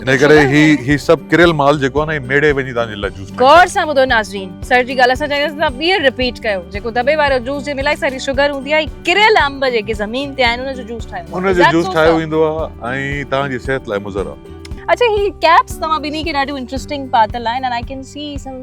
انهي ڪري هي هي سڀ ڪريل مال جيڪو آهي نه هي ميڙي وڃي تان جي لاء جوس غور سان ٻڌو ناظرين سر جي ڳالهه اسان چاهينداسين تان ٻيهر رپيٽ ڪيو جيڪو دٻي وارو جوس جي ملائي ساري شگر هوندي آهي ڪريل انب جيڪي زمين تي آهن ان جو جوس ٺاهيو ان جو جوس ٺاهيو ويندو آهي ۽ تان جي صحت لاء مضر آهي اڇا هي ڪيپس توهان ٻنهي کي ڏاڍيون انٽريسٽنگ پاتل آهن and I can see some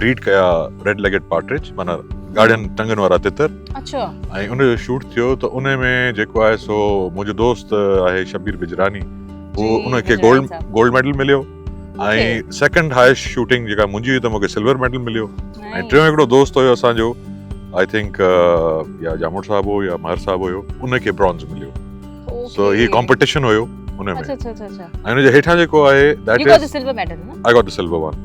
bird ڪيا ريڊ ليگڊ پارٽرج معنيٰ ڳاڙهين ٽنگن وارا تتر اڇا ۽ ان جو شوٽ ٿيو ته ان ۾ جيڪو آهي سو منهنجو دوست آهي شبير بجراني هو ان کي گولڊ گولڊ ميڊل مليو ۽ سيڪنڊ هائيسٽ شوٽنگ جيڪا منهنجي هئي ته مونکي سلور ميڊل مليو ۽ ٽيون هڪڙو دوست هيو اسانجو آئي ٿنڪ يا جاموڙ صاحب هو يا مهر صاحب هيو ان کي برونز مليو سو هي ڪمپيٽيشن هيو ان ۾ اڇا اڇا اڇا ۽ ان جي هيٺان جيڪو آهي that is you got the silver medal نه I got the silver one